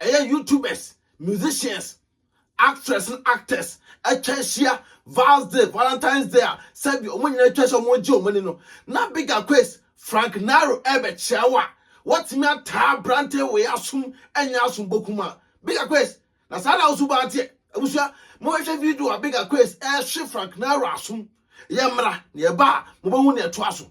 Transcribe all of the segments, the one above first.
ɛyɛ youtubers, musicians, actress ne actors atwa ahyia Val's Day, Valentine's Day a sɛbi wɔn nyinaa atwa ahyia wɔn gye wɔn ani no, na Big Aquays, Frank Naro ɛrebɛkyia wo a, wɔatumi ataa aberante wei asom anya asom bokum a. Big Aquays, na saa na wosu baa teɛ. Abusua, mohwehwɛ video a Big Aquays ɛrehye Frank Naro asom, yɛmmra na yɛba a mobɛhu nea ɛtoa so.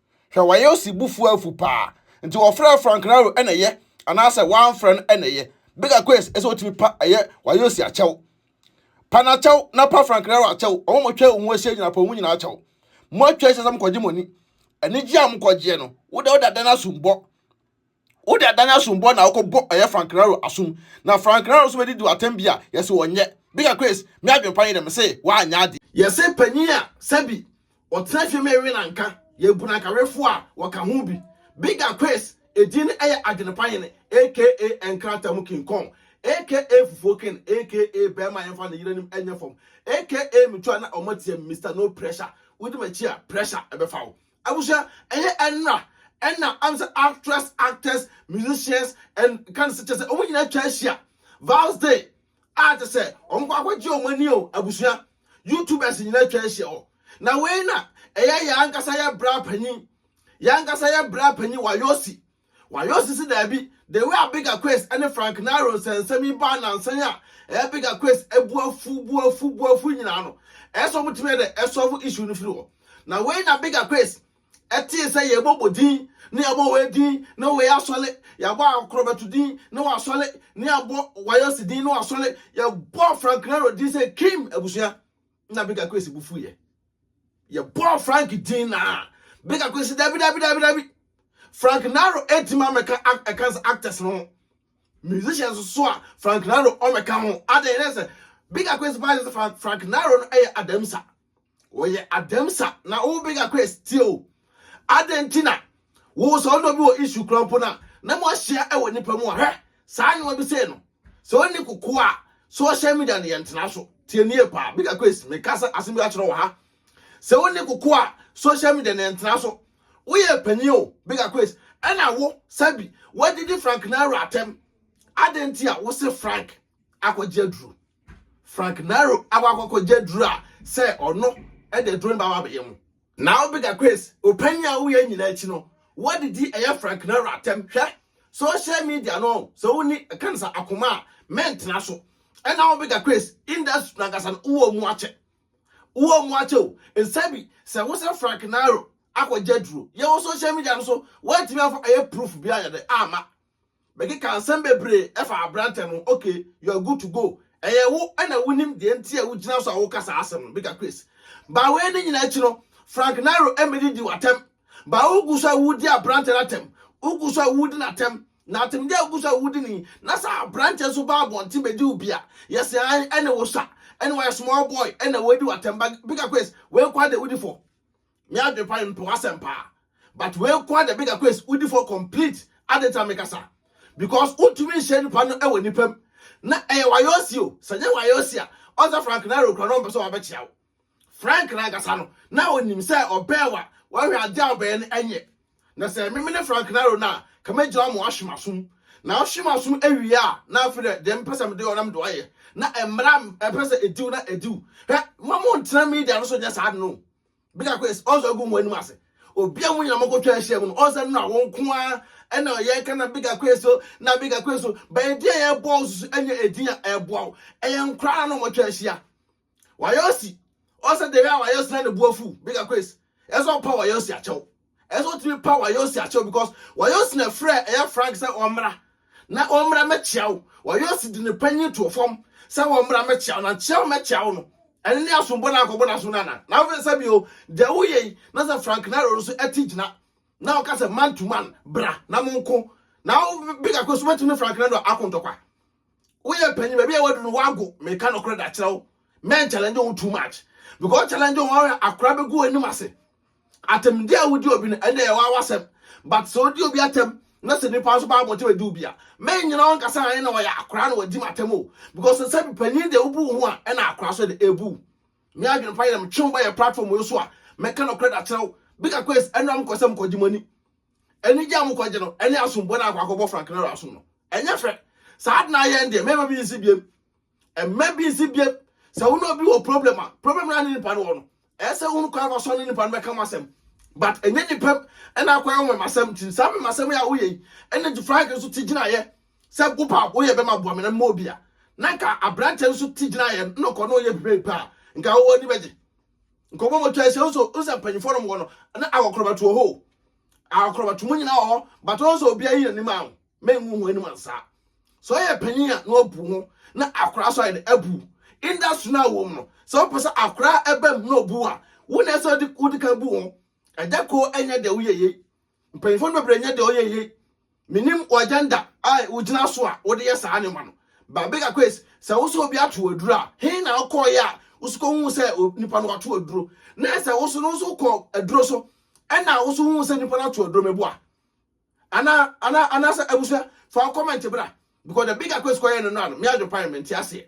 Hwɛ, wɔayɛ ɔsebufo afu paa. Nti wɔfrɛɛ Frank Raro na ɛyɛ anaasɛ wɔamfrɛ no na ɛyɛ. Bigger Quays sɛ wotumi pa ɛyɛ wɔayɛ ɔsi akyɛw. Pa no akyɛw na pa Frank Raro akyɛw. Wɔn a wɔatwa wo ho ahyia nyinaa, pa wɔn nyinaa akyɛw. Moatwa ahyia sɛ mokɔgye mo ani. Anigye a mokɔgyeɛ no, woda woda dɛn asum bɔ? Wo de adan asombɔ na wokɔ bɔ ɔyɛ Frank Raro asom na Frank Raro so bɛdidi w'atam bi a yɛse ɔnyɛ. Bika Chris, me adwen pa nye dɛ mese w'anyɛ ade. Yɛse panyin a sɛ bi ɔtena fie ma yɛwe no anka yɛbu no anka wefo a wɔka ho bi. Bika Chris, edin no ɛyɛ adwen pa hene aka nkrata mu king kong aka fufuo king aka bɛɛma a yɛnfa ne yere anim nyɛ fam aka me tu a na ɔma tia me Mister no pressure wodi m'akyi a pressure ɛbɛfa wo. Abusua ɛyɛ ɛnra ɛna am sɛ actress actors musicians and kan sɛ kyɛ sɛ wɔn nyinaa atwa ahyia vows day a kyɛ sɛ wɔn kɔ akɔgye wɔn ani o abusua youtubers nyinaa atwa ahyia hɔ na wei na ɛyɛ yɛn ankasa yɛ bra panyin yɛn ankasa yɛ bra panyin wayosi Wayɛ ɔse se daabi. The way a Bigger Quest ne Frank Nero nsɛnsɛm yi baa nnansa yi a ɛyɛ Bigger Quest bo afu bo afu bo afu nyinaa no, ɛyɛ sɛ wɔtumi yɛ dɛ solve issue no firi hɔ. Na wei na Bigger Quest tee sɛ yɛbɔ bɔ din na yɛbɔ wei din na wei asɔre, yɛabɔ Akorɔbɛto din na wasɔre na yɛabɔ Wayɛ ɔse din na wasɔre, yɛbɔɔ Frank Nero din sɛ Kim abusua. na beka kwesi bu fuyɛ yɛbɔɔ frank din na beka kwesi dabi dabi dabi dabi frank naro ɛtumi amɛka ɛka sɛ actors no ho musicians so a frank naro ɔmɛka ho adɛn ne sɛ beka kwesi paa sɛ frank naro no ɛyɛ adamsa wɔyɛ adamsa na wo beka kwesi tie o adɛn nti na Wo sɛ ɔdɔ bi wɔ issue kura mpo na na mo ahyia ɛwɔ nipa mu a hwɛ saa nneɛma bi sei no sɛ ɔnni koko a social media no yɛn tena so tie nie paa big akwes me kasa asem bi akyerɛ wɔ ha sɛ ɔnni koko a social media no yɛn tena so woyɛ panyin o big akwes ɛna wo sabi wadidi frank naro atɛm adan ti a wose frank akɔgye aduro frank naro akɔ akɔgye aduro a sɛ ɔno ɛde aduro no ba ba bɛyɛ mu Na wo bigger Chris wo panyin a woyɛ nyinaa akyi no woadidi ɛyɛ Frank Naro atɛm hwɛ social media no sɛ wonni ɛka no sɛ akoma a mɛntena so ɛna wo bigger Chris industry nankasa no wowɔ mu akyɛ wowɔ mu akyɛ o nsɛ bi sɛ wo sɛ Frank Naro akɔgya duro yɛwɔ social media no so woantumi amfa ɛyɛ proof bi ayɛ dɛ ama Mekeka nsɛm bebree ɛfa abrantɛ no ok you are good to go ɛyɛ wo ɛna wonim deɛ nti a wogyina so a woka saa asɛm no bigger Chris baa wei ne nyina akyi no Frank Nairo ɛmɛdi di watɛm baa wogu so a wodi abrantɛ no atɛm wogu so a wodi natɛm na atemdeɛ a wogu so a wodi ni na sɛ abrantɛ nso baa abɔnten bɛdi wo bia yɛse an ɛne wo sa ɛne wayɛ small boy ɛna wadi watɛm bigger Chris wei kwa de wodi fɔ Me adwene pa mepɛ w'asɛm paa but wei nko ara na meka kɔ esi wodi fɔ complete adenta mekasa because wotumi nhyɛ nipa no wɔ nipa mu na ɛyɛ wayɔsi o sɛ nyɛ wayɔsi a ɔsɛ frank na ɛrekura no ɔmpɛ sɛ wabɛkyia wo frank na ankasa no na onim sɛ ɔbɛn wa wɔhwɛ ade a ɔbɛyɛ no ɛnyɛ na sɛ meme ne frank na ro no a kama gyina ɔmo ahwe m'asom na ɔhwe m'asom awie a na afei dɛ deɛ mpɛ sɛ mede ɔnam de wayɛ na mmara mpɛ sɛ ediw na ediw hwɛ mo mo ntena media no so nyɛ saa no bɛka kɔ ɛsɛ ɔsɛ ɔgu mu anim ase obi a mo nyina mɔkɔ twɛ ahyia mu no ɔsɛ no a wɔn nko ara ɛna ɔyɛ ka na bɛka kɔ ɛsɛ na bɛka kɔ ɛsɛ bɛyɛ di a yɛ bɔ ɔsoso ɛnyɛ edin a ɛboa wo ɛyɛ nkora na wɔtwa ahyia wɔayɛ ɔsi ɔsɛ deɛ a wɔayɛ ɔsi na ne bu afu bɛka kɔ ɛsɛ ɛsɛ ɔpa wɔayɛ ɔsi akyɛw Ɛsɛ sɛ wotumi pa Wayosi akyɛw because Wayosi na frɛ ɛyɛ Frank sɛ ɔmmra na ɔmmra mɛkyia wo. Wayosi de ne panyin to fam sɛ ɔmmra mɛkyia wo na kyia wo mɛkyia wo no. Ɛne ne asombɔ na akɔbɔ n'asom no ana? Na afei sɛ bio, deɛ woyɛ yi na sɛ Frank Naro no nso ɛte gyina na ɔka sɛ man to man bra na monko na wo big akɔ so bɛtumi ne Frank Naro ako ntɔkwa. woyɛ panyin baabi a wadu no wago meka nɔkorɛ da kyerɛ wo men challenge wo too much because challenge wo ahwɛ akora bɛgu anim ase atemde a wodi obi no ɛnde ɛyɛ wawa sɛm but sɛ wodi obi atam na sɛ nipa nso baa bɔnte bɛdi obi a men nyina wo nkasa ayɛ na wɔyɛ akora na wɔdi matam o because sɛ bi panyin deɛ wobu wo ho a ɛna akora so de ebu me adwene pa yɛ na metwe wo bɛyɛ platform yo so a mɛka nɔkorɛ da kyerɛ wo bika kwes ɛnora mekɔ sɛ mekɔgye mɔni Anigye a mokɔgye no ne asomboɔ no a akɔ akɔbɔ Frank Nero asom no. Ɛnyɛ fɛ. Saa ade no ayɛ ɛn deɛ, mɛma bi nsi biem. Ɛmma bi nsi biem. Sɛ wo ne obi wɔ problem a, problem no a ne nipa no wɔ no, ɛyɛ sɛ wohunu kwan fa so ne nipa no bɛka mo asɛm. But ɛnyɛ nipa mu na akɔyɛ wo memasɛm nti. Saa memasɛm yi a woyɛ yi na nti Frank nso te gyinaeɛ sɛ wo paa woyɛ bɛma aboa me na mma obi a. Na nka aberanteɛ no nso te gyinaeɛ no na ɔkɔ na ɔyɛ biribi paa, nka wowɔ ani bɛgye. Nkɔmmɔ mu twae sɛ nso nsa mpanyinfoɔ nom wɔ no na akɔkorɔbato wɔ hɔ o akɔkorɔbato mu nyinaa wɔ hɔ but ɔn sɛ obiara yi n'anim a mengu ho anim ansa sɛ ɔyɛ panyin a na wabu ho na akora so ayɛ de abu industry no a wɔm no sɛ wopɛ sɛ akora ɛbam na ɔbu a wo na ɛsɛ wode kan bu ho ɛda ko ɛnyɛ deɛ woyɛ yei Mpanyimfo no bebree nyɛ deɛ ɔyɛ yie. Menim wo agenda a wogyina so a wode yɛ saa nneɛma no. Ba Baker Quays, sɛ wo sɛ obi ato aduro a, he na wokɔeɛ a wo so kɔhuu sɛ nipa no wato aduro? Na sɛ wo so no nso kɔ aduro so ɛna wo so huu sɛ nipa no ato aduro meboa? Ana ana anaasɛ abusua fa wo comment bra because the bigger quest kɔyɛ no no ano me adwopan me nte aseɛ.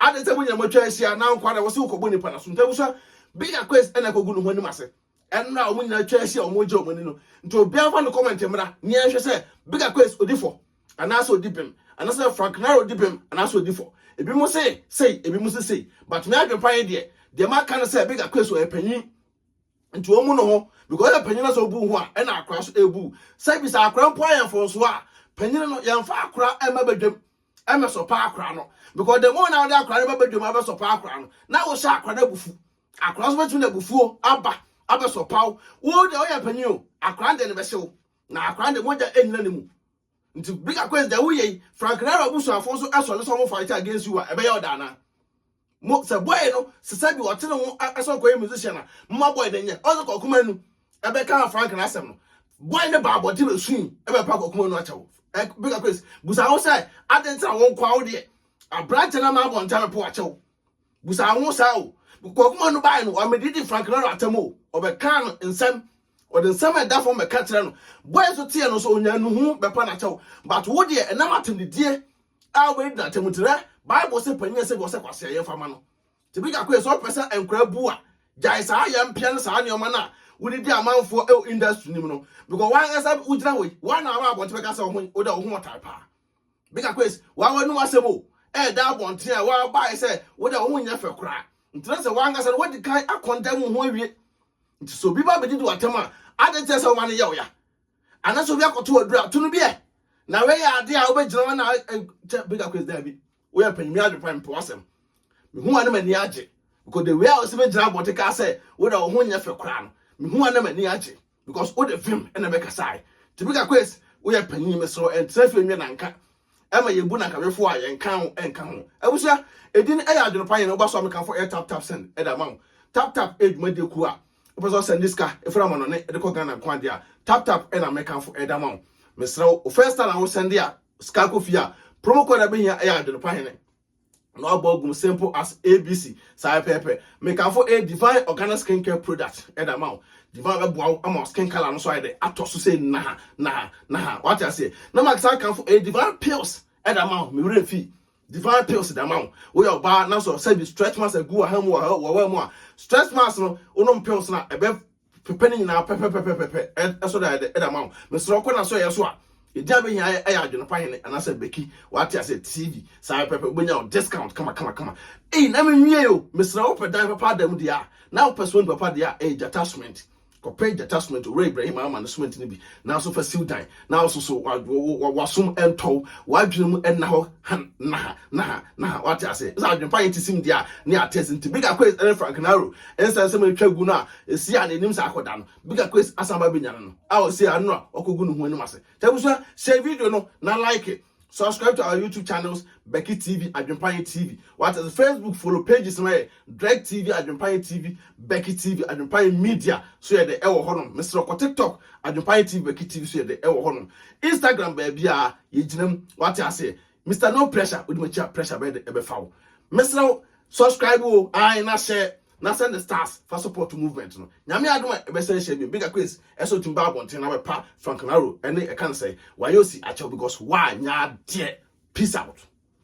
Ade sɛ mo nyina mo atwa ahyia na nkwa na wo se wokɔbɔ nipa no so nti abusua bigger quest ɛna kɔgu no ho anim ase. ɛnna a wɔn nyinaa atwa ahyia a wɔregye wɔn ani no nti obiara mfa no comment mmra ne yɛnhwɛ sɛ big aquas odi fɔ anaasɛ odi bem anaasɛ frank nara odi bem anaasɛ odi fɔ ebi mo se sei ebi mo se sei but me adwempa yɛ deɛ deɛ maka no sɛ big aquas ɔyɛ panyin nti wɔn mu no ho because ɔyɛ panyin na sɛ obu ho a ɛna akora so ebu sɛ ebi sɛ akora mpo ayɛ mfɔnso a panyin no yɛnfa akora ɛma badwam ɛmɛ sɔpa akora no because the more na ɔde akora no ba badwam abɛsɔpa akora no na wɔhyɛ akora no abufu Akwadaa nso bɛtumi de abufuo aba abɛsɔpa wo. Wo deɛ woyɛ panin o, akwadaa deɛ no bɛhyɛ wo. Na akwadaa deɛ mogya nnyina ne mu. Nti big akwes deɛ woyɛ yi, Frank Naro abusuafo nso sɔre sɛ wɔn fight against you a, ɛbɛyɛ ɔda anaa? Mo sɛ boy no sesa bi ɔtene ho ɛsɛ ɔkɔyɛ musician a, moma boy no nyɛ. Ɔsɛ kɔkuma anu ɛbɛka Frank no asɛm no. Boy no ba abɔnten bɛsui ɛbɛpa kɔkuma anu akyɛ wo. Big akwes busa wo sɛ adenkyerɛ wo nkwa wo deɛ aberankyɛ no ama abɔnten bɛpo akyɛ wo. busa wo ho saa o kwakuma no bae no ɔmedidi frank naro atam o ɔbɛkaa no nsɛm ɔde nsɛm a ɛda fam bɛka kyerɛ no bɔe nso teɛ no nso onya nuhu bɛpa n'akyɛw but wo deɛ ɛnam atemdidie a wobɛdi n'atam nti rɛ bible sɛ panyin ɛsɛ bi ɔsɛ kwasea yɛmfa ma no nti bi kakɔ yɛ sɛ ɔpɛ sɛ nkora bu a gyae saa yɛ mpea ne saa nneɛma no a wode di amanfoɔ ɛwɔ industry nim no because wankasa wogyina hɔ yi woana aba abɔnte bɛka sɛ wo ho wo da wo ho ɔtare paa Bigger Quest, wa w'anu w'asɛm o, ɛɛda abɔnten a wa ba ayɛ sɛ wo dɛ wo ho nyɛ fɛ koraa. Nti na sɛ w'ankasa no wadi kan akɔndɛm wo ho awie. Nti sɛ obi ba bɛdidi w'atɛm a, adɛn nti na sɛ woma no yɛ wo ya? Ana sɛ obi akɔto w'aduru a, to no bi ɛ? Na wei yɛ ade a wobɛgyina hɔ na kyɛ Bigger Quest daabi. Woyɛ mpanyinmi adwene pa mpe w'asɛm. Mehu wa na m'ani agye. Because the way a ɔsɛ bɛgyina abɔnten kaa sɛ wo dɛ wo ho nyɛ fɛ koraa no, mehu wa na m'ani agye. because wo de vim na bɛka sae Tibika Quest woyɛ panyin me soro ɛntra fie nwe nanka ɛma yɛbu nanka wefo a yɛnka ho ɛnka ho abusua edin ɛyɛ adwene pa yɛn woba so a mekamfo ɛyɛ tap tap send ɛde ama wo tap tap ɛyɛ dwumadie kuo a wopɛ sɛ ɔsɛnde sika ɛfiri amanɔne ɛde kɔ Ghana nko adeɛ a tap tap ɛna mekamfo ɛde ama wo mesrɛ wo first time a wosɛnde a sika kɔ fie a promo code a bɛhia ɛyɛ adwene pa hene na wabɔ agum simple as abc saa pɛpɛpɛ mekamfo a divine organic skin care product ɛda eh, ma wo divine bɛboa wo ama skin color no so ayɛ dɛ atɔ so sɛ naha naha naha wate aseɛ na ma saa kamfo a divine pills ɛda eh, ma wo mewerɛ mfii divine pills da ma wo woyɛ ɔbaa na sɛ sɛ bi stretch marks agu wɔ ha mu wɔ wɔ mu a stretch marks no wonom pills no a ɛbɛ Pepa ne nyinaa pɛpɛpɛpɛpɛ ɛso da ɛdɛ ɛda ma wo. Mesrɛ kɔ na so yɛ so a. Ɛdi abɛhia ɛyɛ adwene pa hene anaasɛ beki wate ase TV saa pɛpɛ wobɛnya wo discount kama kama kama. Ei na menwie o mesrɛ wopɛ dan papa ada mu deɛ a na wopɛ cement papa deɛ a ɛyɛ gyata cement kɔpɛ gyata cement owura Ibrahim ama no cement no bi na so fa siw dan na wo soso wasom ɛntɔw w'adwene mu ɛnna hɔ han na ha na ha na ha wate ase sɛ adwene pa yɛ ti sim dia ne atɛs nti bigger quiz ɛne frank naro ɛnsɛn sɛ ɛtwa gu no a ɛsi a n'anim sɛ akɔda no bigger quiz asan ba bɛnya no no a ɔsi ano a ɔkɔgu ne ho anim ase tɛbusua hyɛ video no na like Subscribe to our YouTube channels, Becky TV, Adwempanye TV. What is Facebook follow pages no yɛ Drake TV, Adwempanye TV, Becky TV, Adwempanye Media so yɛ de ɛwɔ hɔ nom. Mesrɛ kɔ TikTok, Adwempanye TV, Becky TV so yɛ de ɛwɔ hɔ nom. Instagram baabi a yɛgyina mu wate aseɛ. Mr. No Pressure, wode m'akyi a pressure bɛyɛ de ɛbɛfa wo. Mesrɛ subscribe o, ae na hyɛ na sɛ ne stars fa support movement no Nyame adom a ɛbɛsan ahyia bio Bigger Queens ɛso ntumi ba abɔnten na bɛpa Frank Naro ɛne ɛka no sɛe wayɛ osi akyɛw because woanyɛ adeɛ peace out.